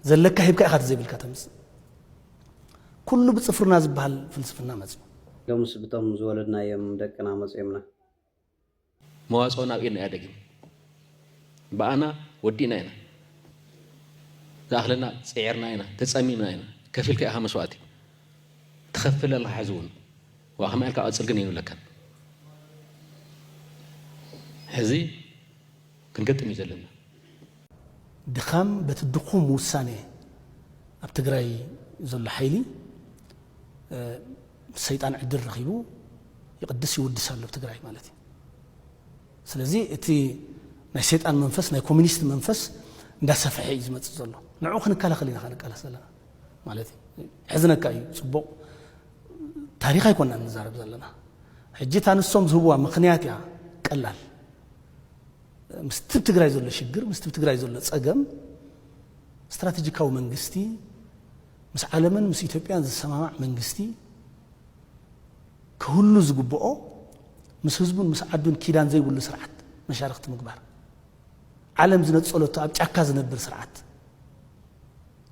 ዘለካ ሂብካ ኢኻ ተዘይብልካ ተምጽእ ኩሉ ብጽፍርና ዝብሃል ፍልስፍና መጽዩ። ሎምስ ብቶም ዝወለድናዮም ደቅና መጽዮምና። መዋጽኦና ኣብ ኢድና እያ ደጊም ብኣና ወዲእና ኢና ዝኣኽለና ጽዒርና ኢና ተጸሚምና ኢና ከፊልካ ኢኻ መስዋእቲ ትኸፍል ኣለኻ ሕዚ ውን ዋእ ከማይ ኢልካ ቀጽል ግን ኣይንብለካን ሕዚ ክንገጥም እዩ ዘለና። ድኻም በቲ ድኹም ውሳነ ኣብ ትግራይ ዘሎ ሓይሊ ሰይጣን ዕድል ረኺቡ ይቕድስ ይውድስ ኣሎ ብ ትግራይ ማለት እዩ። ስለዚ እቲ ናይ ሰይጣን መንፈስ ናይ ኮሚኒስት መንፈስ እንዳሰፈሐ እዩ ዝመጽእ ዘሎ ንዑ ክንከላኸል ኢና ክንቃለስ ዘለና ማለት እዩ። ሕዝነካ እዩ ጽቡቕ ታሪኽ ኣይኮናን ንዛረብ ዘለና ሕጂ እታ ንሶም ዝህብዋ ምኽንያት እያ ቀላል ምስቲ ብ ትግራይ ዘሎ ሽግር ምስቲ ብ ትግራይ ዘሎ ፀገም ስትራቴጂካዊ መንግስቲ ምስ ዓለምን ምስ ኢትዮጵያን ዝሰማማዕ መንግስቲ ክህሉ ዝግብኦ ምስ ህዝቡን ምስ ዓዱን ኪዳን ዘይብሉ ስርዓት መሻርክቲ ምግባር ዓለም ዝነፀለቶ ኣብ ጫካ ዝነብር ስርዓት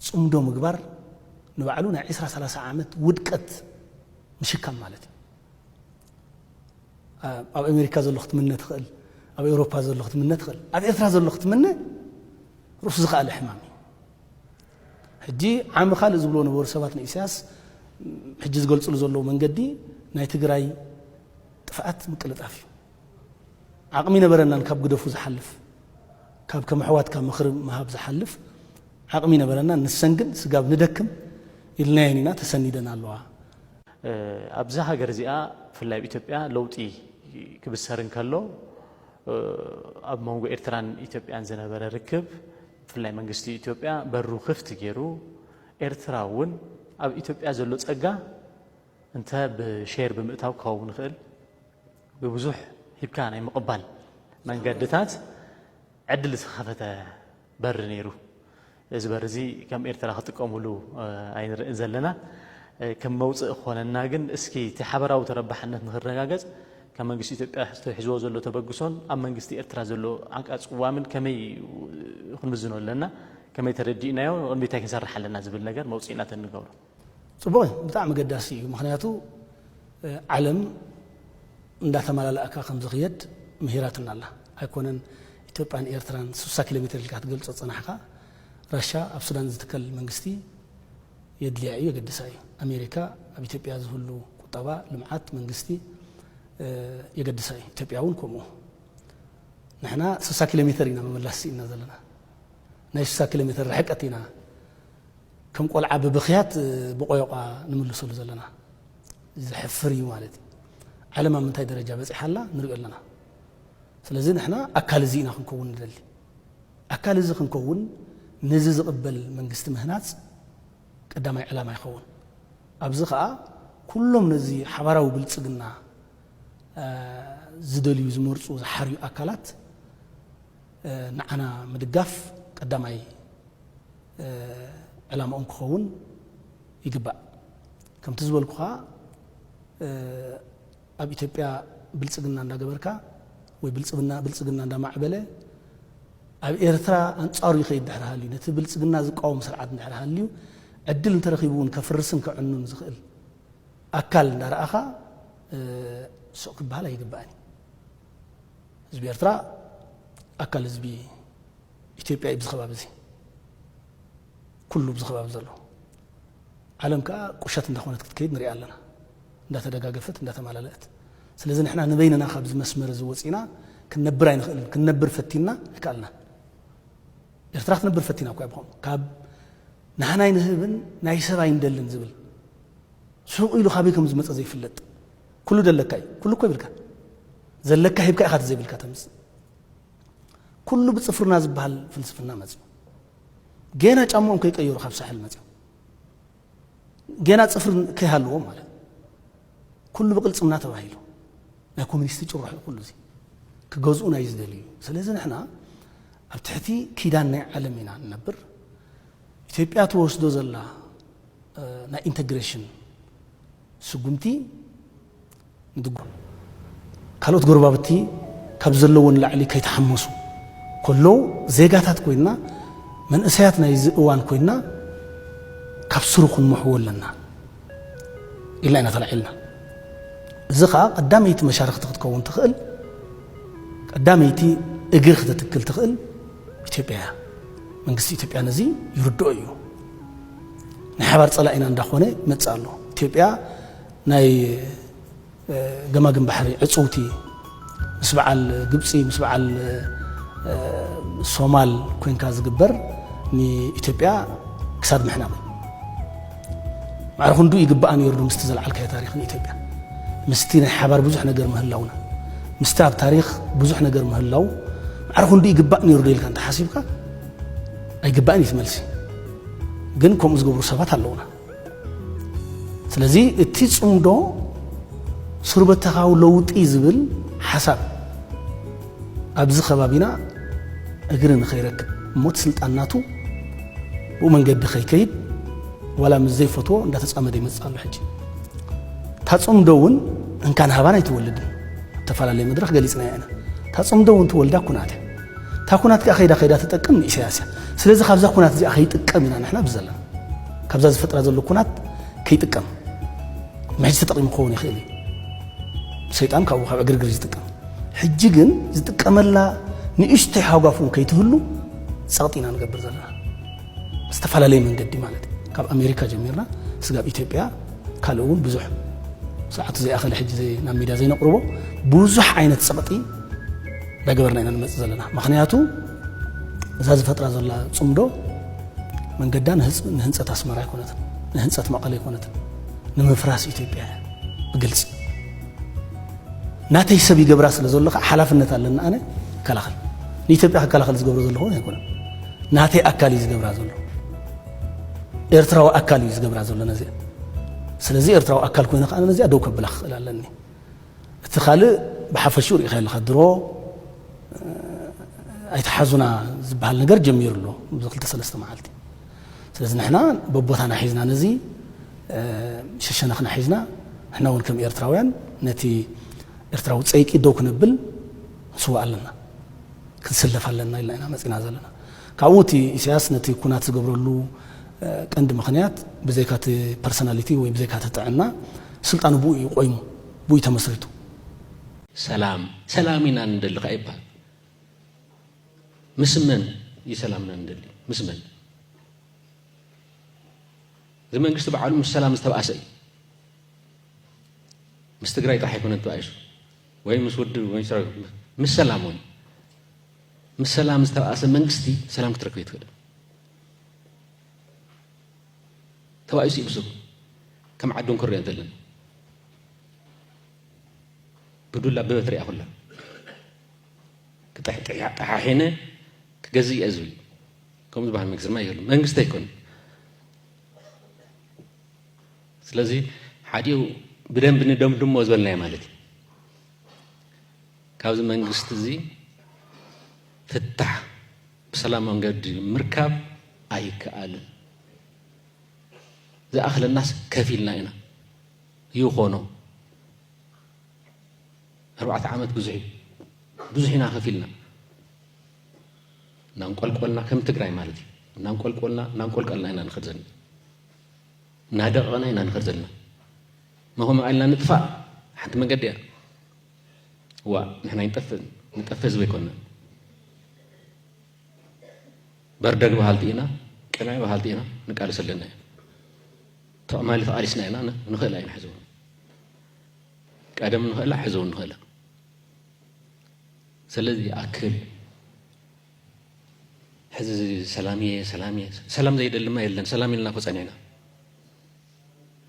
ፅምዶ ምግባር ንባዕሉ ናይ ዒስራ ሰላሳ ዓመት ውድቀት ምሽካም ማለት እዩ። ኣብ ኣሜሪካ ዘሎ ክትምነ ትኽእል፣ ኣብ ኤውሮፓ ዘሎ ክትምነ ትኽእል፣ ኣብ ኤርትራ ዘሎ ክትምነ ርእሱ ዝኸኣለ ሕማም እዩ። ሕጂ ዓሚ ካልእ ዝብልዎ ነበሩ ሰባት ንኢሳያስ ሕጂ ዝገልጽሉ ዘለዉ መንገዲ ናይ ትግራይ ጥፍኣት ምቅልጣፍ እዩ። ዓቕሚ ነበረናን ካብ ግደፉ ዝሓልፍ ካብ ከም ኣሕዋትካ ምኽሪ ምሃብ ዝሓልፍ ዓቕሚ ነበረናን ንሰን ግን ስጋብ ንደክም ኢልናየን ኢና ተሰኒደን ኣለዋ። ኣብዛ ሃገር እዚኣ ብፍላይ ኣብ ኢትዮጵያ ለውጢ ክብሰር እንከሎ ኣብ መንጎ ኤርትራን ኢትዮጵያን ዝነበረ ርክብ ብፍላይ መንግስቲ ኢትዮጵያ በሩ ክፍት ገይሩ ኤርትራ እውን ኣብ ኢትዮጵያ ዘሎ ጸጋ እንተ ብሼር ብምእታው ክኸውን ይኽእል ብብዙሕ ሂብካ ናይ ምቕባል መንገድታት ዕድል ዝኸፈተ በሪ ነይሩ። እዚ በሪ እዚ ከም ኤርትራ ክጥቀሙሉ ኣይንርእን ዘለና። ከም መውጽኢ ክኾነና ግን እስኪ እቲ ሓበራዊ ተረባሕነት ንክረጋገጽ ካብ መንግስቲ ኢትዮጵያ ሒዝዎ ዘሎ ተበግሶን ኣብ መንግስቲ ኤርትራ ዘሎ ዓንቃ ጽዋምን ከመይ ክንምዝኖ ኣለና፣ ከመይ ተረዲእናዮ ንቕድሚት እንታይ ክንሰርሕ ኣለና ዝብል ነገር መውጽኢና ተንገብሮ። ፅቡቅ እዩ ብጣዕሚ ኣገዳሲ እዩ ምክንያቱ ዓለም እንዳተማላላእካ ከምዝክየድ ምሂራትና ኣላ ኣይኮነን ኢትዮጵያን ኤርትራን ስሳ ኪሎ ሜትር ኢልካ ትገልፆ ዝፀናሕካ ራሻ ኣብ ሱዳን ዝትከል መንግስቲ የድልያ እዩ የገድሳ እዩ ኣሜሪካ ኣብ ኢትዮጵያ ዝህሉ ቁጠባ ልምዓት መንግስቲ የገድሳ እዩ ኢትዮጵያ እውን ከምኡ ንሕና ስሳ ኪሎ ሜትር ኢና ምምላስ ስኢንና ዘለና ናይ ስሳ ኪሎ ሜትር ርሕቀት ኢና ከም ቆልዓ ብብኽያት ብቆዮቛ ንምልሰሉ ዘለና ዘሕፍር እዩ ማለት እዩ። ዓለም ኣብ ምንታይ ደረጃ በጺሓ ኣላ ንሪኦ ኣለና። ስለዚ ንሕና ኣካል እዚ ኢና ክንከውን ንደሊ። ኣካል እዚ ክንከውን ነዚ ዝቕበል መንግስቲ ምህናጽ ቀዳማይ ዕላማ ይኸውን። ኣብዚ ከኣ ኩሎም ነዚ ሓባራዊ ብልጽግና ዝደልዩ፣ ዝመርጹ፣ ዝሓርዩ ኣካላት፣ ንዓና ምድጋፍ ቀዳማይ ዕላምኦም ክኸውን ይግባእ። ከምቲ ዝበልኩኻ ኣብ ኢትዮጵያ ብልፅግና እንዳገበርካ ወይ ብልፅግና ብልፅግና እንዳማዕበለ ኣብ ኤርትራ ኣንጻሩ ይኸይድ ድሕሪ ሃልዩ ነቲ ብልፅግና ዝቃወም ስርዓት ድሕሪ ሃልዩ ዕድል እንተረኺቡ እውን ከፍርስን ከዕኑን ዝኽእል ኣካል እንዳረኣኻ ስቕ ክበሃል ኣይግባእን እዩ። ህዝቢ ኤርትራ ኣካል ህዝቢ ኢትዮጵያ እዩ ብዝኸባቢ እዚ ኩሉ ብዝኸባቢ ዘሎ ዓለም ከዓ ቁሸት እንዳኾነት ክትከይድ ንሪኣ ኣለና እንዳተደጋገፈት እንዳተማላለእት ስለዚ ንሕና ንበይንና ካብዚ መስመር እዚ ወፂና ክንነብር ኣይንኽእልን ክንነብር ፈቲና ኣይከኣልናን ኤርትራ ክትነብር ፈቲና እኳ ብኸምኡ ካብ ንሃናይ ንህብን ናይ ሰብ ኣይንደልን ዝብል ሱቕ ኢሉ ካበይ ከም ዝመፀ ዘይፍለጥ ኩሉ ደለካ እዩ ኩሉ እኮ ይብልካ ዘለካ ሂብካ ኢኻ ተዘይብልካ ተምፅእ ኩሉ ብፅፍርና ዝበሃል ፍልስፍና መፅኡ ጌና ጫምኦም ከይቀየሩ ካብ ሳሕል መፅኦም ጌና ፅፍሪ ከይሃልዎም ማለት ኩሉ ብቅልፅምና ተባሂሉ ናይ ኮሚኒስቲ ጭርሑ ኩሉ እዚ ክገዝኡ ናይ ዝደልዩ ስለዚ ንሕና ኣብ ትሕቲ ኪዳን ናይ ዓለም ኢና ንነብር ኢትዮጵያ ተወስዶ ዘላ ናይ ኢንተግሬሽን ስጉምቲ ምድጓም ካልኦት ጎረባብቲ ካብ ዘለዎ ንላዕሊ ከይተሓመሱ ከለዉ ዜጋታት ኮይንና መንእሰያት ናይዚ እዋን ኮይንና ካብ ስሩ ክንመሕዎ ኣለና ኢልና ኢና ተላዒልና። እዚ ከኣ ቀዳመይቲ መሻርኽቲ ክትከውን ትኽእል ቀዳመይቲ እግሪ ክተትክል ትኽእል ኢትዮጵያ እያ። መንግስቲ ኢትዮጵያ ነዚ ይርድኦ እዩ። ናይ ሓባር ጸላኢና እንዳኾነ ይመጽእ ኣሎ። ኢትዮጵያ ናይ ገማግም ባሕሪ ዕጽውቲ ምስ በዓል ግብጺ ምስ በዓል ሶማል ኮንካ ዝግበር ንኢትዮጵያ ክሳድ ምሕናቕ እዩ። ማዕረ ክንዱ ይግባኣ ነይሩ ዶ ምስቲ ዘልዓልካዮ ታሪኽ ንኢትዮጵያ ምስቲ ናይ ሓባር ብዙሕ ነገር ምህላውና ምስቲ ኣብ ታሪኽ ብዙሕ ነገር ምህላው ማዕረ ክንዱ ይግባእ ነይሩ ዶ ኢልካ እንተሓሲብካ ኣይግባእን እዩ እቲ መልሲ ግን ከምኡ ዝገብሩ ሰባት ኣለውና ስለዚ እቲ ፅምዶ ስሩበተኻዊ ለውጢ ዝብል ሓሳብ ኣብዚ ከባቢና እግሪ ንኸይረክብ እሞ እቲ ስልጣን ናቱ ብኡ መንገዲ ከይከይድ ዋላ ምስ ዘይፈትዎ እንዳተፃመደ ይመፅእ ኣሎ ሕጂ እታ ፅምዶ እውን እንካን ሃባን ኣይትወልድን እተፈላለየ መድረኽ ገሊፅና ኢና እታ ፅምዶ እውን ትወልዳ ኩናት እያ እታ ኩናት ከኣ ከይዳ ከይዳ ትጠቅም ንኢሰያስ እያ። ስለዚ ካብዛ ኩናት እዚኣ ከይጥቀም ኢና ንሕና ኣብዚ ዘለና። ካብዛ ዝፈጥራ ዘሎ ኩናት ከይጥቀም። ንሕጂ ተጠቂሙ ክኸውን ይኽእል እዩ። ሰይጣን ካብኡ ካብ ዕግርግር ዝጥቀም። ሕጂ ግን ዝጥቀመላ ንእሽተይ ሃጓፍ እውን ከይትህሉ ጸቕጢ ኢና ንገብር ዘለና። ዝተፈላለየ መንገዲ ማለት እዩ ካብ ኣሜሪካ ጀሚርና ስጋብ ኢትዮጵያ ካልእ እውን ብዙሕ ሰዓቱ ዘይኣኸለ ሕጂ ናብ ሚድያ ዘይነቕርቦ ብዙሕ ዓይነት ፀቕጢ ዳገበርና ኢና ንመፅእ ዘለና ምክንያቱ እዛ ዝፈጥራ ዘላ ፅምዶ መንገዳ ንህንፀት ኣስመራ ኣይኮነትን ንህንፀት መቐለ ኣይኮነትን ንምፍራስ ኢትዮጵያ እያ ብግልፂ ናተይ ሰብ ይገብራ ስለ ዘሎ ከዓ ሓላፍነት ኣለና ኣነ ይከላኸል ንኢትዮጵያ ክከላኸል ዝገብሮ ዘለኹ ኣይኮነን ናተይ ኣካል እዩ ዝገብራ ዘሎ ኤርትራዊ ኣካል እዩ ዝገብራ ዘሎ ነዚኣ ስለዚ ኤርትራዊ ኣካል ኮይነ ከዓ ነዚኣ ደው ከብላ ክኽእል ኣለኒ እቲ ካልእ ብሓፈሽኡ ርኢኻ ኣለኻ ድሮ ኣይተሓዙና ዝበሃል ነገር ጀሚሩ ኣሎ እዚ ክልተ ሰለስተ መዓልቲ ስለዚ ንሕና በቦታና ሒዝና ነዚ ሸሸነኽና ሒዝና ንሕና እውን ከም ኤርትራውያን ነቲ ኤርትራዊ ፀይቂ ደው ክነብል ንስዋእ ኣለና ክንስለፍ ኣለና ኢልና ኢና መጺና ዘለና። ካብኡ እቲ ኢሳያስ ነቲ ኩናት ዝገብረሉ ቀንዲ ምኽንያት ብዘይካ እቲ ፐርሰናሊቲ ወይ ብዘይካ እቲ ጥዕና ስልጣኑ ብኡ እዩ ቆይሙ ብኡ እዩ ተመስሪቱ። ሰላም ሰላም ኢና ንደሊ ከኣ ይበሃል። ምስ መን እዩ ሰላምና ንደሊ ምስ መን? እዚ መንግስቲ በዓሉ ምስ ሰላም ዝተብኣሰ እዩ። ምስ ትግራይ ጥራሕ ኣይኮነን ተባኢሱ ወይ ምስ ውድብ ወይ ሰራዊት ምስ ሰላም እውን ምስ ሰላም ዝተባእሰ መንግስቲ ሰላም ክትረክብ ኣይትኽእልን። ተባኢሱ እዩ ብስሩ ከም ዓዱ ክንሪኦ እንተለና ብዱላ ብበትሪ እያ ኩላ ጠሓሒነ ክገዝእ እየ ዝብል ከምኡ ዝበሃል መንግስቲ ድማ የሉ መንግስቲ ኣይኮነ ስለዚ ሓዲኡ ብደንቢ ንደምድሞ ዝበልናዮ ማለት እዩ ካብዚ መንግስቲ እዚ ፍታሕ ብሰላም መንገዲ ምርካብ ኣይከኣልን ዝኣኽለናስ ከፍ ኢልና ኢና ይኾኖ ኣርባዕተ ዓመት ብዙሕ እዩ ብዙሕ ኢና ከፍ ኢልና እናንቆልቆልና ከም ትግራይ ማለት እዩ እናንቆልቆልና እናንቆልቀልና ኢና ንኸድ ዘኒ እናደቐቕና ኢና ንኸድ ዘለና መኸምኡ ኢልና ንጥፋእ ሓንቲ መንገዲ እያ ዋእ ንሕና ይንጠፍእ ንጠፍእ ህዝቢ ኣይኮንና በርደግ በሃልቲ ኢና ቅምዕ በሃልቲ ኢና ንቃልስ ኣለና እዩ ተቕማሊ ተቓሊስና ኢና ንኽእላ ኢና ሕዚ እውን ቀደም ንኽእላ ሕዚ እውን ንኽእላ ስለዚ ይኣክል ሕዚ ሰላም እየ ሰላም እየ ሰላም ዘይደልማ የለን ሰላም ኢልና እኮ ፀኒዕና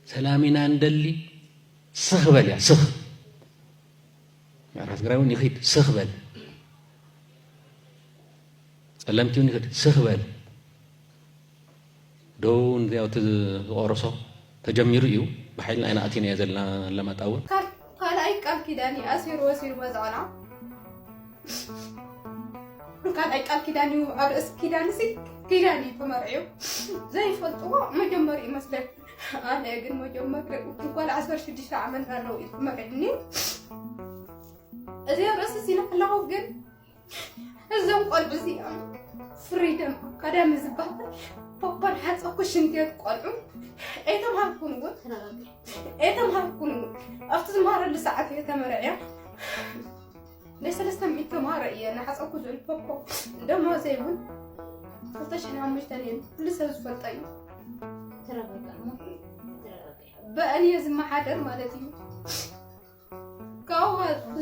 ሰላም ኢና እንደሊ ስኽ በል እያ ስኽ ምዕራብ ትግራይ እውን ይኽድ ስኽ በል ጸለምቲ እውን ይኽድ ስኽ በል ዶ ንዚያው እቲ ዝቆረሶ ተጀሚሩ እዩ ብሓይልና ኢና ኣቲናዮ ዘለና ኣለማጣ እውን ካልኣይ ቃል ኪዳን እዩ ኣሲሩ ወሲዱ መዝዖና ካልኣይ ቃል ኪዳን እዩ ኣብ ርእሲ ኪዳን ሲ ኪዳን እዩ ተመርዕዩ ዘይፈልጥዎ መጀመሪ እዩ መስለኒ ኣነ ግን መጀመሪ ጓል ዓሰርተ ሽዱሽተ ዓመት ኣለዉ እዩ ተመርዕኒ እዚ ኣብ ርእሲ ሲነ ከለኹ ግን እዞም ቆልዑ እዚኦም ፍሪደም ቀዳሚ ዝበሃል ፖፖን ሓፀኩ ሽንትየት ቆልዑ ኤተምሃርኩን እውን ኤተምሃርኩን እውን ኣብቲ ዝመሃረሉ ሰዓት እየ ተመርዕያ ናይ ሰለስተ ሚእቲ ተምሃሮ እየ ንሓፀኩ ዝብል ፖፖ ደሞዘይ እውን ክልተ ሽሕን ሓሙሽተን እየን ኩሉ ሰብ ዝፈልጦ እዩ ብእኔ ዝመሓደር ማለት እዩ ካብኡ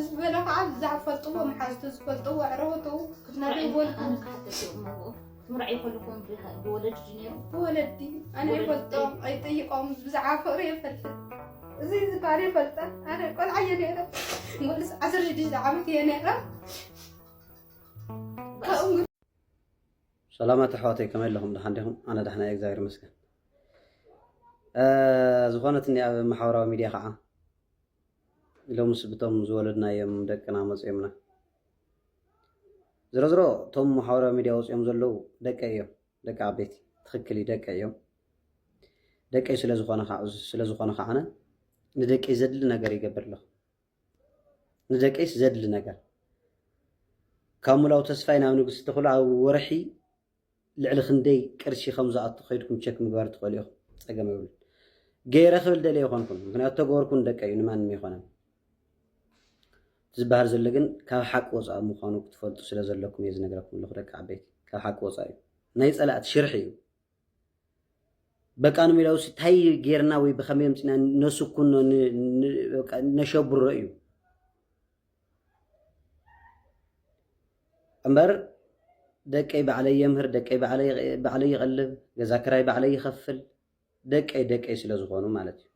ዝበለ ከዓ ብዛዕባ ዝፈልጥዎ መሓዝቱ ዝፈልጥዎ ኣዕርኽቱ ክትነግርዎ ትምርዓይ ከለኹም ብወለዲ ድዩ ነይሩ ብወለዲ ኣነ ይፈልጦም ኣይጠይቆም ብዛዕባ ፍቅሪ የፈልጥ እዚ ዝካል የፈልጠን ኣነ ቆልዓ እየ ነይረ ወልስ ዓሰርተ ሽዱሽተ ዓመት እየ ነይረ ሰላማት ኣሕዋተይ ከመይ ኣለኹም ድሓን ዲኹም ኣነ ዳሕና እየ እግዚኣብሔር ይመስገን ዝኾነትኒ ኣብ ማሕበራዊ ሚድያ ከዓ ሎምስ ብቶም ዝወለድናዮም ደቅና መጽዮምና። ዝሮዝሮ እቶም ማሕበራዊ ሚድያ ወጽዮም ዘለዉ ደቀይ እዮም ደቂ ዓበይቲ ትኽክል እዩ ደቀይ እዮም ደቀይ ስለዝኾነ ስለዝኾነ ከዓነ ንደቀይ ዘድሊ ነገር ይገብር ኣለኹ ንደቀይስ ዘድሊ ነገር ካብ ሙላው ተስፋይ ናብ ንግስቲ ተኽሉ ኣብ ወርሒ ልዕሊ ክንደይ ቅርሺ ከም ዝኣቱ ከይድኩም ቸክ ምግባር ትኽእሉ ኢኹም ጸገም የብሉን ገይረ ክብል ደልየ ይኾንኩን ምክንያቱ ተገበርኩን ደቀዩ ንማንም ይኾነን ዝበሃል ዘሎ ግን ካብ ሓቂ ወፃኢ ምዃኑ ክትፈልጡ ስለ ዘለኩም እየ ዝነግረኩም ኣለኹ ደቂ ዓበይቲ ካብ ሓቂ ወፃኢ እዩ ናይ ፀላእቲ ሽርሒ እዩ በቃ ንሚላው ታይ ጌርና ወይ ብከመይ ምፅና ነስኩኖ ነሸብሮ እዩ እምበር ደቀይ ባዕለይ የምህር፣ ደቀይ ባዕለይ ይቐልብ፣ ገዛ ክራይ ባዕለይ ይኸፍል፣ ደቀይ ደቀይ ስለ ዝኾኑ ማለት እዩ።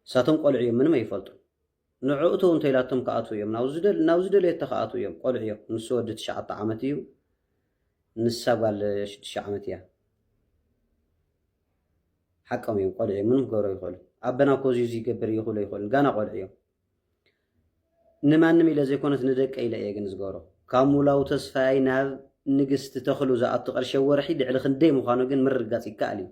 ንሳቶም ቆልዑ እዮም፣ ምንም ኣይፈልጡን። ንዕኡ ተው እንተኢላቶም ክኣትዉ እዮም፣ ናብ ዝደለየቶ ክኣትዉ እዮም፣ ቆልዑ እዮም። ንሱ ወዲ ትሽዓተ ዓመት እዩ፣ ንሳ ጓል ሽዱሽተ ዓመት እያ። ሓቆም እዮም፣ ቆልዑ እዮም፣ ምንም ክገብሩ ኣይኽእሉን። ኣበና እኮ እዚ ይገብር እዩ ክብሉ ኣይኽእሉን፣ ጋና ቆልዑ እዮም። ንማንም ኢለ ዘይኮነስ ንደቀይ ኢለ እየ ግን ዝገብሮ። ካብ ሙላው ተስፋይ ናብ ንግስቲ ተኽሉ ዝኣቱ ቅርሺ ኣብ ወርሒ ልዕሊ ክንደይ ምዃኑ ግን ምርግጋፅ ይከኣል እዩ።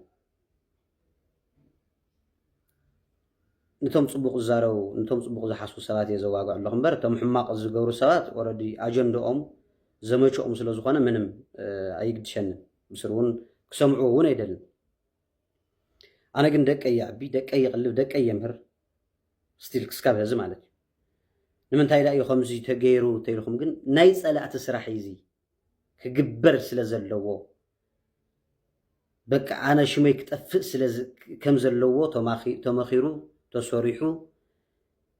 ንቶም ፅቡቕ ዝዛረቡ ንቶም ፅቡቕ ዝሓስቡ ሰባት እየ ዘዋግዕ ኣለኹ እምበር እቶም ሕማቕ ዝገብሩ ሰባት ኦረዲ ኣጀንድኦም ዘመችኦም ስለ ዝኾነ ምንም ኣይግድሸንን ምስር እውን ክሰምዑ እውን ኣይደልን ኣነ ግን ደቀይ ይዕቢ ደቀይ ይቕልብ ደቀይ የምህር ስቲል ክስካብ ሀዚ ማለት እዩ ንምንታይ ዳእዩ ከምዚ ተገይሩ ተኢልኩም ግን ናይ ፀላእቲ ስራሕ እዩ እዚ ክግበር ስለ ዘለዎ በቃ ኣነ ሽመይ ክጠፍእ ከም ዘለዎ ተመኺሩ ተሰሪሑ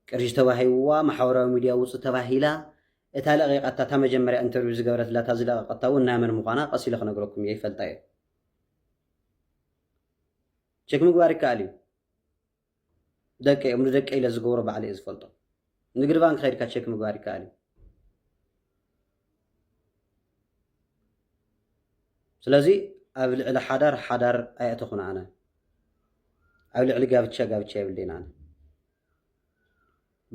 ቅርሺ ተባሂብዋ ማሕበራዊ ሚድያ ውፅ ተባሂላ እታ ለቂቃታ እታ መጀመርያ ኢንተርቪው ዝገበረትላ እታ ዝለቀቀታ እውን ናይ መን ምኳና ቀስ ኢለ ክነግረኩም እየ ይፈልጣ እየ ቸክ ምግባር ይከኣል እዩ ደቀይ እዮም ንደቀይ ኢለ ዝገብሮ ባዕለ እየ ዝፈልጦ ንግድ ባንክ ከድካ ቸክ ምግባር ይከኣል እዩ ስለዚ ኣብ ልዕሊ ሓዳር ሓዳር ኣየእተኹን ኣነ ኣብ ልዕሊ ጋብቻ ጋብቻ የብልዴን ኣነ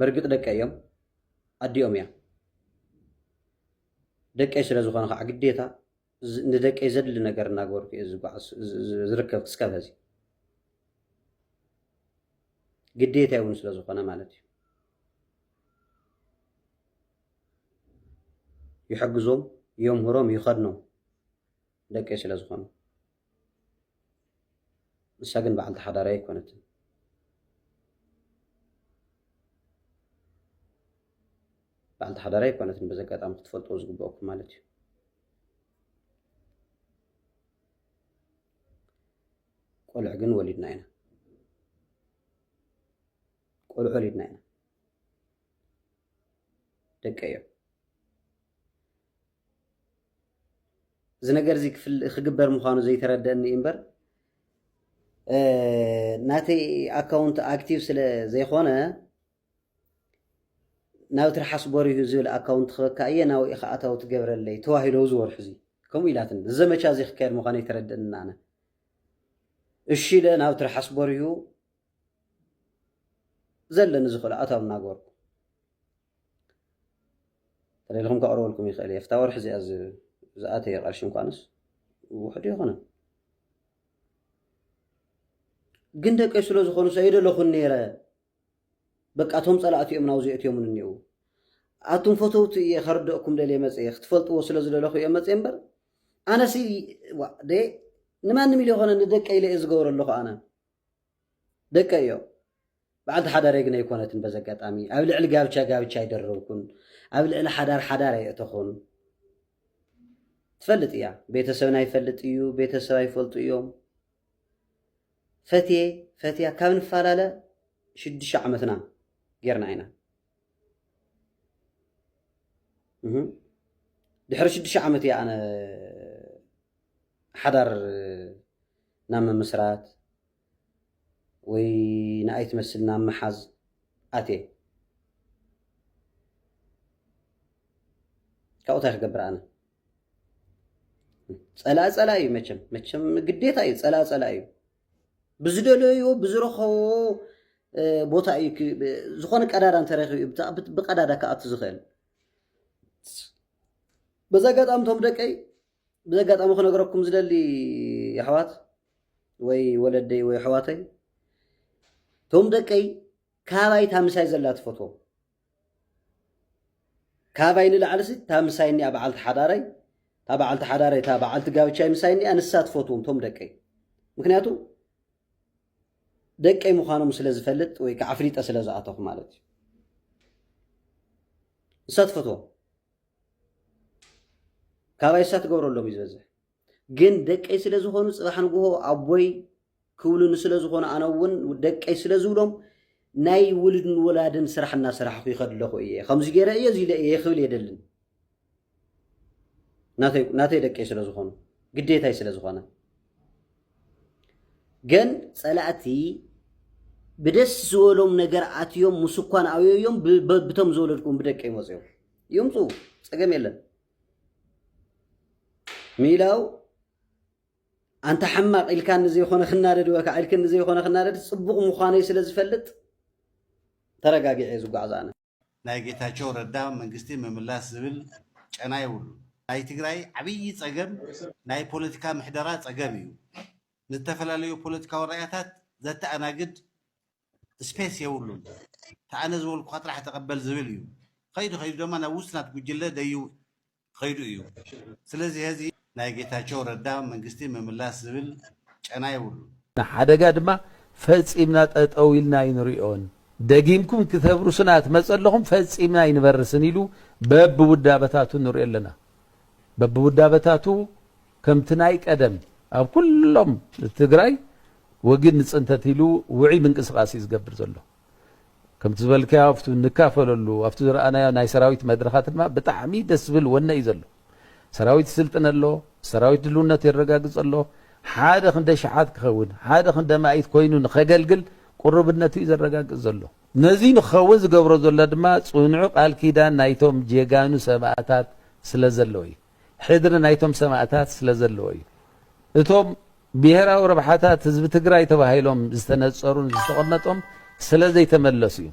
በርግጥ ደቀ እዮም ኣዲኦም እያ ደቀይ ስለ ዝኾነ ከዓ ግዴታ ንደቀይ ዘድሊ ነገር እናገበርኩ እየ ዝጓዓዝ ዝርከብ ክስካብ ሀዚ ግዴታይ እውን ስለ ዝኾነ ማለት እዩ ይሕግዞም የምህሮም ይኸድኖም ደቀይ ስለ ዝኾኑ ንሳ ግን በዓልቲ ሓዳረይ ኣይኮነትን። በዓልቲ ሓዳረይ ኣይኮነትን በዚ ኣጋጣሚ ክትፈልጥዎ ዝግበኣኩም ማለት እዩ። ቆልዑ ግን ወሊድና ኢና ቆልዑ ወሊድና ኢና ደቂ እዮም። እዚ ነገር እዚ ክግበር ምዃኑ ዘይተረደእኒ እምበር ናተይ ኣካውንት ኣክቲቭ ስለ ዘይኮነ ናብ ትርሓስ ጎሪሁ ዝብል ኣካውንት ክበካ እየ ናብ ኢኻ ኣታዊ ትገብረለይ ተዋሂሎ እዚ ወርሒ እዚ ከምኡ ኢላትኒ እዚ ዘመቻ እዚ ክካየድ ምዃኑ ይተረድእና ኣነ እሺ ኢለ ናብ ትርሓስ ጎሪሁ ዘለኒ ዝኽእሉ ኣታዊ እናገበርኩ ተለልኹም ከቕርበልኩም ይኽእል እየ ፍታ ወርሒ እዚኣ ዝኣተየ ቐርሺ እንኳንስ ውሕዱ ይኾነን ግን ደቀይ ስለ ዝኾኑ ሰይደለኹን ነይረ በቃ እቶም ፀላእቲ እዮም ናብዚ እትዮምን እኒው ኣቱም ፈተውቲ እየ ከርደእኩም ደልየ መፅየ ክትፈልጥዎ ስለ ዝደለኹ እየ መፅየ እምበር ኣነሲ ንማንም ኢለ ይኮነ ንደቀ ኢለ እየ ዝገብረ ኣለኹ ኣነ ደቀይ እዮም። በዓልቲ ሓዳረይ ግን ኣይኮነትን። በዚ ኣጋጣሚ ኣብ ልዕሊ ጋብቻ ጋብቻ ኣይደረብኩን፣ ኣብ ልዕሊ ሓዳር ሓዳር ኣየእተኹን። ትፈልጥ እያ፣ ቤተሰብና ይፈልጥ እዩ፣ ቤተሰብ ኣይፈልጡ እዮም። ፈትየ ፈትያ ካብ ንፈላለ ሽዱሽተ ዓመትና ጌርና ኢና። ድሕሪ ሽዱሽተ ዓመት እያ ኣነ ሓዳር ናብ ምምስራት ወይ ንኣይ ትመስል ናብ ምሓዝ ኣትየ። ካብኡ እንታይ ክገብር ኣነ? ፀላኢ ፀላኢ እዩ መቸም መቸም ግዴታ እዩ ፀላኢ ፀላኢ እዩ ብዝደለዮ ብዝረኸቦ ቦታ እዩ ዝኾነ ቀዳዳ እንተረኪቡ እዩ ብቀዳዳ ክኣቱ ዝኽእል በዚ ኣጋጣሚ እቶም ደቀይ ብዚ ኣጋጣሚ ክነግረኩም ዝደሊ ኣሕዋት ወይ ወለደይ ወይ ኣሕዋተይ እቶም ደቀይ ካባይ ታምሳይ ዘላ ትፈትዎም ካባይ ንላዕልሲ ታምሳይ እኒኣ በዓልቲ ሓዳረይ እታ በዓልቲ ሓዳረይ እታ በዓልቲ ጋብቻይ ምሳይ እኒኣ ንሳ ትፈትዎም እቶም ደቀይ ምክንያቱ ደቀይ ምዃኖም ስለ ዝፈልጥ ወይ ከዓ ኣፍሊጠ ስለ ዝኣተኹ ማለት እዩ ንሳ ትፈትዎም ካባይ እሳ ትገብረሎም እዩ ዝበዝሕ ግን ደቀይ ስለ ዝኾኑ ፅባሕ ንግሆ ኣቦይ ክብሉኒ ስለ ዝኾኑ ኣነ እውን ደቀይ ስለ ዝብሎም ናይ ውልድን ወላድን ስራሕ እናሰራሕኹ ይኸድ ኣለኹ እየ ከምዚ ገይረ እየ እዚ ኢለ እየ ክብል የደልን ናተይ ደቀይ ስለ ዝኾኑ ግዴታይ ስለ ዝኾነ ግን ፀላእቲ ብደስ ዝበሎም ነገር ኣትዮም ምስ እኳን ኣውዮም ብቶም ዝወለድኩም ብደቀ ይመፅዮም ይምፁ ፀገም የለን ሚላው ኣንታ ሕማቕ ኢልካ ንዘይኮነ ክናደድ ወካ ኢልክ ንዘይኮነ ክናደድ ፅቡቕ ምዃነይ ስለ ዝፈልጥ ተረጋጊዐ እየ ዝጓዓዝ ኣነ ናይ ጌታቸው ረዳ መንግስቲ ምምላስ ዝብል ጨና የብሉ ናይ ትግራይ ዓብዪ ፀገም ናይ ፖለቲካ ምሕደራ ፀገም እዩ ንዝተፈላለዩ ፖለቲካዊ ራእያታት ዘተኣናግድ ስፔስ የብሉን። እቲ ኣነ ዝበልኩኻ ጥራሕ ተቐበል ዝብል እዩ። ኸይዱ ኸይዱ ደማ ናብ ውሽጢ ናቱ ጉጅለ ደዩ ኸይዱ እዩ። ስለዚ ሀዚ ናይ ጌታቸው ረዳ መንግስቲ ምምላስ ዝብል ጨና የብሉን። ንሓደጋ ድማ ፈፂምና ጠጠው ኢልና ኣይንሪኦን። ደጊምኩም ክተብርሱና ትመፀለኹም ፈፂምና ኣይንበርስን ኢሉ በቢውዳበታቱ ንሪኦ ኣለና። በቢውዳበታቱ ከምቲ ናይ ቀደም ኣብ ኩሎም ትግራይ ወጊድ ንፅንተት ኢሉ ውዕይ ምንቅስቃስ እዩ ዝገብር ዘሎ። ከምቲ ዝበልካዮ ኣብቲ ንካፈለሉ ኣብቲ ዝረኣናዮ ናይ ሰራዊት መድረኻት ድማ ብጣዕሚ ደስ ዝብል ወነ እዩ ዘሎ። ሰራዊት ይስልጥን ኣሎ፣ ሰራዊት ድልውነት የረጋግፅ ኣሎ፣ ሓደ ክንደ ሽሓት ክኸውን ሓደ ክንደ ማኢት ኮይኑ ንኸገልግል ቁሩብነቱ እዩ ዘረጋግፅ ዘሎ። ነዙይ ንክኸውን ዝገብሮ ዘሎ ድማ ፅኑዕ ቃል ኪዳን ናይቶም ጀጋኑ ሰማእታት ስለዘሎ እዩ። ሕድሪ ናይቶም ሰማእታት ስለዘለዎ እዩ። እቶም ብሄራዊ ረብሓታት ህዝቢ ትግራይ ተባሂሎም ዝተነፀሩን ዝተቐመጦም ስለዘይተመለሱ እዩ።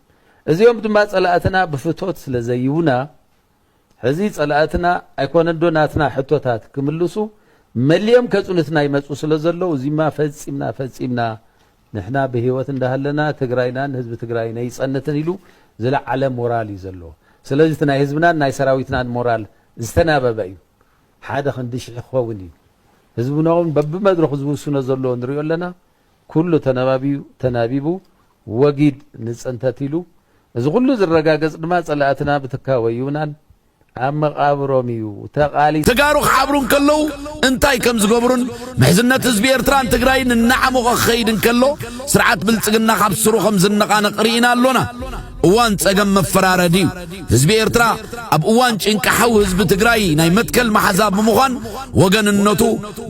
እዚኦም ድማ ፀላእትና ብፍቶት ስለዘይቡና ሕዚ ፀላእትና ኣይኮነንዶ ናትና ሕቶታት ክምልሱ መሊኦም ከፅኑትና ይመፁ ስለዘለዉ እዚማ ፈፂምና ፈፂምና ንሕና ብህይወት እንዳሃለና ትግራይናን ህዝቢ ትግራይን ኣይፀንትን ኢሉ ዝለዓለ ሞራል እዩ ዘለዎ። ስለዚ እቲ ናይ ህዝብናን ናይ ሰራዊትናን ሞራል ዝተናበበ እዩ። ሓደ ክንዲ ሽሕ ክኸውን እዩ። ህዝብና እውን በቢመድረኹ ዝውስኖ ዘሎ ንሪኦ ኣለና። ኩሉ ተናባቢዩ ተናቢቡ ወጊድ ንፅንተት ኢሉ። እዚ ኩሉ ዝረጋገፅ ድማ ፀላእትና ብትካቦ እዩናን ኣብ መቓብሮም እዩ ተቓሊሱ። ተጋሩ ክሓብሩ እንከለዉ እንታይ ከም ዝገብሩን ምሕዝነት ህዝቢ ኤርትራን ትግራይን እናዓሞቐ ክኸይድ እንከሎ ስርዓት ብልጽግና ካብ ሱሩ ከም ዝነቓነቕ ርኢና ኣሎና። እዋን ጸገም መፈራረዲ እዩ። ህዝቢ ኤርትራ ኣብ እዋን ጭንቂ ሓው ህዝቢ ትግራይ ናይ መትከል መሓዛ ብምዃን ወገንነቱ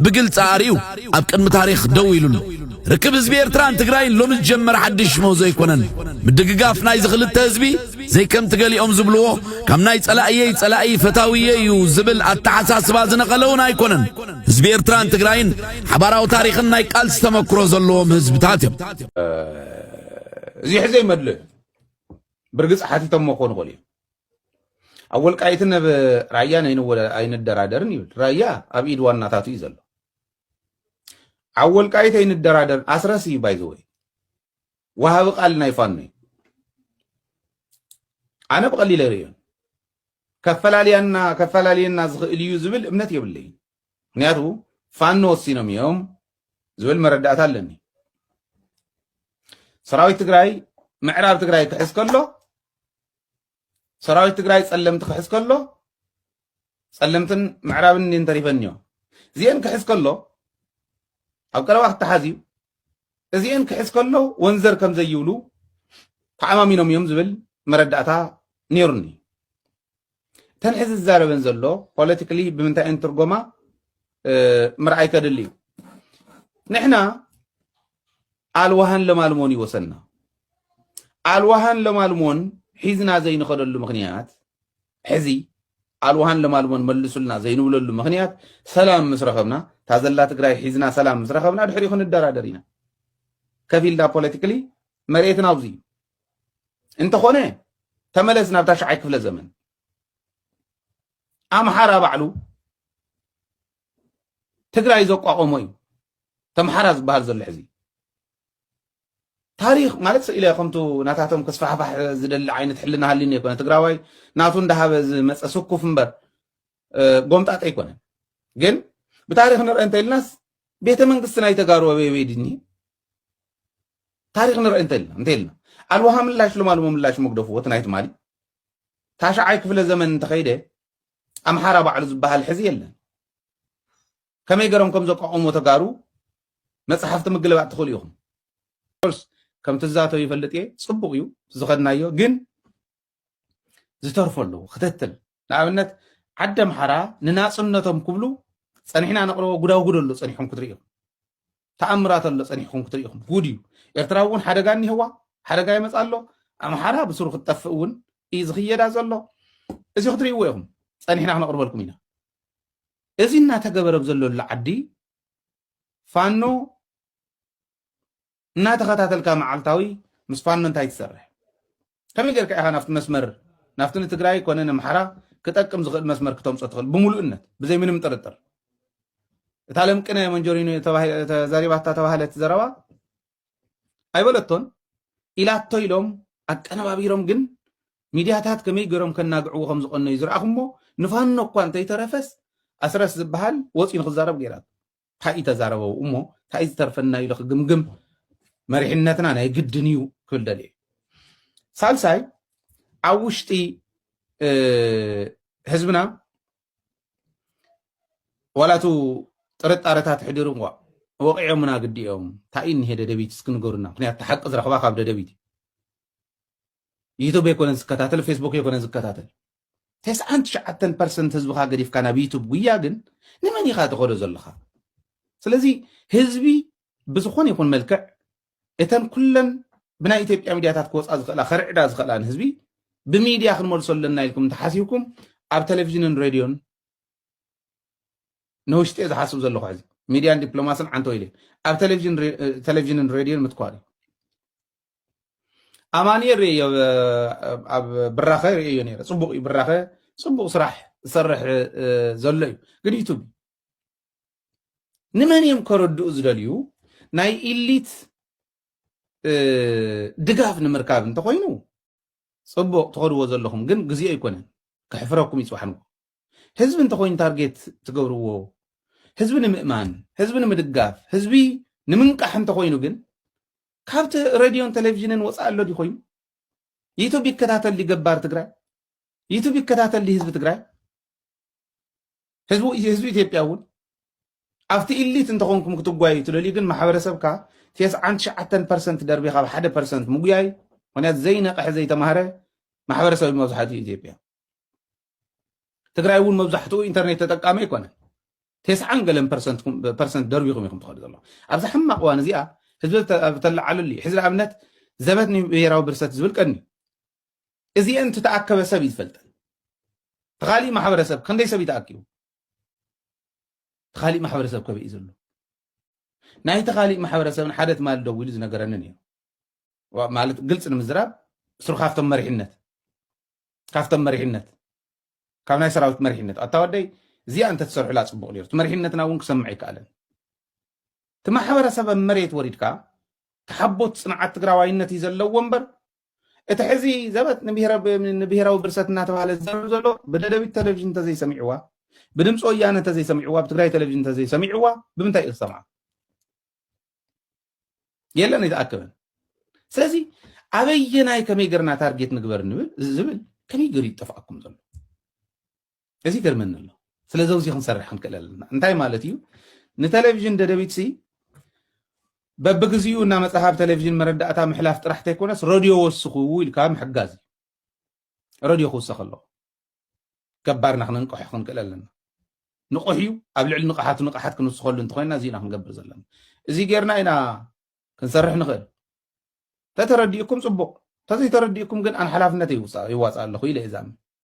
ብግልጺ ኣርእዩ ኣብ ቅድሚ ታሪኽ ደው ኢሉ ኣሎ። ርክብ ህዝቢ ኤርትራን ትግራይን ሎሚ ዝጀመረ ሓድሽ ምህዞ ኣይኮነን። ምድግጋፍ ናይዚ ክልተ ህዝቢ፣ ዘይከምቲ ገሊኦም ዝብልዎ ካብ ናይ ጸላእየይ ጸላኢ ፈታውየይ እዩ ዝብል ኣተሓሳስባ ዝነቐለውን ኣይኮነን። ህዝቢ ኤርትራን ትግራይን ሓባራዊ ታሪኽን ናይ ቃልሲ ተመክሮ ዘለዎም ህዝብታት እዮም። እዚሕ ዘይመድልእ ብርግጽ ሓቲቶሞ ክኾኑ ይኽእሉ እዮም። ኣብ ወልቃይትን ኣብ ራያን ኣይንደራደርን ይብል። ራያ ኣብ ኢድ ዋናታቱ እዩ ዘሎ። ኣብ ወልቃይት ኣይንደራደርን ኣስረስ እዩ ባይዘወይ ወሃቢ ቃል ናይ ፋኖ እዩ ኣነ ብቐሊል ኣይርእዮን ከፈላልያና ከፈላልየና ዝኽእል እዩ ዝብል እምነት የብለይን ምክንያቱ ፋኖ ወሲኖም እዮም ዝብል መረዳእታ ኣለኒ ሰራዊት ትግራይ ምዕራብ ትግራይ ክሕዝ ከሎ ሰራዊት ትግራይ ጸለምቲ ክሕዝ ከሎ ጸለምትን ምዕራብን እንዲን ተሪፈንዮ እዚኤን ክሕዝ ከሎ ኣብ ቀረባ ክተሓዝ እዩ እዚኤን ክሕዝ ከሎ ወንዘር ከም ዘይብሉ ተዓማሚኖም እዮም ዝብል መረዳእታ ነይሩኒ እተን ሕዚ ዝዛረበን ዘሎ ፖለቲካሊ ብምንታይ እየን ትርጎማ ምርኣይ ከድሊ እዩ ንሕና ኣልዋሃን ለማልሞን እዩ ወሰና ኣልዋሃን ለማልሞን ሒዝና ዘይንኸደሉ ምክንያት ሕዚ ኣልዋሃን ለማልሞን መልሱልና ዘይንብለሉ ምክንያት ሰላም ምስ ረኸብና እታ ዘላ ትግራይ ሒዝና ሰላም ምስ ረኸብና ድሕሪኡ ክንደራደር ኢና ከፍ ኢልና ፖለቲካሊ መሬትና ኣብዚ እዩ እንተኾነ ተመለስ ናብታ ሸዓይ ክፍለ ዘመን ኣምሓራ ባዕሉ ትግራይ ዘቋቆሞ እዩ ተምሓራ ዝበሃል ዘሎ ሕዚ ታሪክ ማለት ስኢለ ከምቱ ናታቶም ክስፋሕፋሕ ዝደሊ ዓይነት ሕልና ሃሊኒ ኣይኮነ ትግራዋይ ናቱ እንዳሃበ ዝመፀ ስኩፍ እምበር ጎምጣጠ ኣይኮነ ግን ብታሪክ ንርአ እንተኢልናስ ቤተ መንግስቲ ናይ ተጋሩ ኣበይበይ ድኒ ታሪክ ንርአ እንተኢልና እንተኢልና ኣልዋሃ ምላሽ ሎማልሞ ምላሽ መግደፍዎት ናይ ትማሊ ታሽዓይ ክፍለ ዘመን እንተኸይደ ኣምሓራ ባዕሉ ዝበሃል ሕዚ የለን። ከመይ ገሮም ከም ዘቋቑሞ ተጋሩ መፅሓፍቲ ምግልባጥ ትኽእሉ ኢኹም። ኮርስ ከም ትዛተው ይፈልጥ እየ ፅቡቕ እዩ ዝኸድናዮ ግን ዝተርፎ ኣለዎ ክትትል ንኣብነት ዓደ ኣምሓራ ንናፅነቶም ክብሉ ፀኒሕና ነቕርቦ ጉዳጉድ ኣሎ ፀኒሖም ክትርእዮም ተኣምራት ኣሎ ጸኒሕኩም ክትሪኢኹም ጉድ እዩ ኤርትራ እውን ሓደጋ እኒሀዋ ሓደጋ ይመጽ ኣሎ ኣምሓራ ብስሩ ክትጠፍእ እውን እዩ ዝኽየዳ ዘሎ እዚ ክትርእይዎ ኢኹም ጸኒሕና ክነቕርበልኩም ኢና እዚ እናተገበረ ዘለሉ ዓዲ ፋኖ እናተኸታተልካ መዓልታዊ ምስ ፋኖ እንታይ ትሰርሕ ከመይ ጌርካ ኢኻ ናብቲ መስመር ናብቲ ንትግራይ ኮነ ንምሓራ ክጠቅም ዝኽእል መስመር ክተምፆ ትኽእል ብምሉእነት ብዘይ ምንም ጥርጥር እታ ለምቅነ መንጆሪኖ ተዛሪባታ ተባህለት ዘረባ ኣይበለቶን ኢላቶ ኢሎም ኣቀነባቢሮም ግን ሚድያታት ከመይ ገይሮም ከናግዕዎ ከም ዝቐነዩ ዝረኣኹሞ ንፋኖ እኳ እንተይተረፈስ ኣስረስ ዝበሃል ወፂኡ ንክዛረብ ገይራቶ ታይ'ዩ ተዛረበው እሞ ታይ'ዩ ዝተርፈና ኢሉ ክግምግም መሪሕነትና ናይ ግድን እዩ ክብል ደልየ ሳልሳይ ኣብ ውሽጢ ህዝብና ዋላቱ ጥርጣረታት ሕዲሩ እኳ ወቂዖምና ግዲ እዮም እንታይ እኒሄ ደደቢት እስኪ ንገሩና ምክንያቱ ሓቂ ዝረኽባ ካብ ደደቢት እዩ ዩቱብ ኣይኮነን ዝከታተል ፌስቡክ ኣይኮነን ዝከታተል ተስዓን ትሽዓተን ፐርሰንት ህዝብኻ ገዲፍካ ናብ ዩቱብ ጉያ ግን ንመን ኢኻ ተኸዶ ዘለኻ ስለዚ ህዝቢ ብዝኾነ ይኹን መልክዕ እተን ኩለን ብናይ ኢትዮጵያ ሚድያታት ክወፃ ዝኽእላ ከርዕዳ ዝኽእላ ንህዝቢ ብሚድያ ክንመልሶ ኣለና ኢልኩም እንተሓሲብኩም ኣብ ቴሌቭዥንን ሬድዮን ንውሽጢ ዝሓስብ ዘለኹ ሕዚ ሚድያን ዲፕሎማስን ዓንተ ኢለ ኣብ ቴሌቭዥንን ሬድዮን ምትኳር እዩ ኣማኒኤል ርእዮ ኣብ ብራኸ ርእዮ ነረ ፅቡቅ እዩ ብራኸ ፅቡቅ ስራሕ ዝሰርሕ ዘሎ እዩ ግን ዩቱብ ንመን እዮም ከረድኡ ዝደልዩ ናይ ኢሊት ድጋፍ ንምርካብ እንተኮይኑ ፅቡቅ ትኸድዎ ዘለኹም ግን ግዜኦ ኣይኮነን ከሕፍረኩም ይፅባሕንዎ ህዝቢ እንተኮይኑ ታርጌት ትገብርዎ ህዝቢ ንምእማን ህዝቢ ንምድጋፍ ህዝቢ ንምንቃሕ እንተኮይኑ ግን ካብቲ ረድዮን ቴሌቪዥንን ወፃኢ ኣሎ ድዩ ኮይኑ ዩቱብ ይከታተል ድዩ ገባር ትግራይ ዩቱብ ይከታተል ድዩ ህዝቢ ትግራይ ህዝቢ ህዝቢ ኢትዮጵያ እውን ኣብቲ ኢሊት እንተኾንኩም ክትጓዩ ትደልዩ ግን ማሕበረሰብካ ቴስዓን ትሽዓተን ፐርሰንት ደርቢኻ ብ ሓደ ፐርሰንት ምጉያይ ምክንያቱ ዘይነቕሐ ዘይተማህረ ማሕበረሰብ መብዛሕትኡ ኢትዮጵያ ትግራይ እውን መብዛሕትኡ ኢንተርኔት ተጠቃሚ ኣይኮነን ቴስዓን ገለን ፐርሰንት ደርቢኹም ኢኹም ትኸዱ ዘለኹም ኣብዚ ሕማቅ እዋን እዚኣ ህዝቢ ተለዓለሉ እዩ ሕዚ ንኣብነት ዘበት ንብሄራዊ ብርሰት ዝብል ቀኒ እዚአን ትተኣከበ ሰብ እዩ ዝፈልጠን ተኻሊእ ማሕበረሰብ ክንደይ ሰብ ይተኣኪቡ ተኻሊእ ማሕበረሰብ ከበይ እዩ ዘሎ ናይ ተኻሊእ ማሕበረሰብን ሓደ ትማል ደው ኢሉ ዝነገረንን እዩ ማለት ግልፂ ንምዝራብ ስሩ ካብቶም መሪሕነት ካብቶም መሪሕነት ካብ ናይ ሰራዊት መሪሕነት ኣታ ወደይ እዚኣ እንተትሰርሑላ ፅቡቕ ነይሩ እቲ መሪሕነትና እውን ክሰምዕ ኣይከኣለን እቲ ማሕበረሰብ ኣብ መሬት ወሪድካ ተሓቦት ፅንዓት ትግራዋይነት እዩ ዘለዎ እምበር እቲ ሕዚ ዘበት ንብሄራዊ ብርሰት እናተባሃለ ዝዘርብ ዘሎ ብደደቢት ቴሌቭዥን እንተዘይሰሚዕዋ ብድምፂ ወያነ እንተዘይሰሚዕዋ ብትግራይ ቴሌቭዥን እንተዘይሰሚዕዋ ብምንታይ እዩ ክሰምዓ የለን ኣይተኣከበን ስለዚ ኣበየናይ ከመይ ገርና ታርጌት ንግበር ዝብል ከመይ ገሩ ይጠፍኣኩም ዘሎ እዚ ገርመኒ ኣሎ ስለዚ ውዚ ክንሰርሕ ክንክእል ኣለና እንታይ ማለት እዩ ንቴሌቭዥን ደደቢት ሲ በብግዚኡ እናመፅኻብ ቴሌቭዥን መረዳእታ ምሕላፍ ጥራሕ ተይኮነስ ረድዮ ወስኹ ኢልካ ምሕጋዝ እዩ ረድዮ ክውሰኽ ኣለኹ ገባርና ክነንቅሖ ክንክእል ኣለና ንቑሕ እዩ ኣብ ልዕሊ ንቕሓቱ ንቕሓት ክንውስኸሉ እንተኮይንና እዚ ኢና ክንገብር ዘለና እዚ ጌርና ኢና ክንሰርሕ ንኽእል ተተረዲእኩም ፅቡቕ ተዘይተረዲእኩም ግን ኣን ሓላፍነት ይዋፃእ ኣለኹ ኢለ እዛም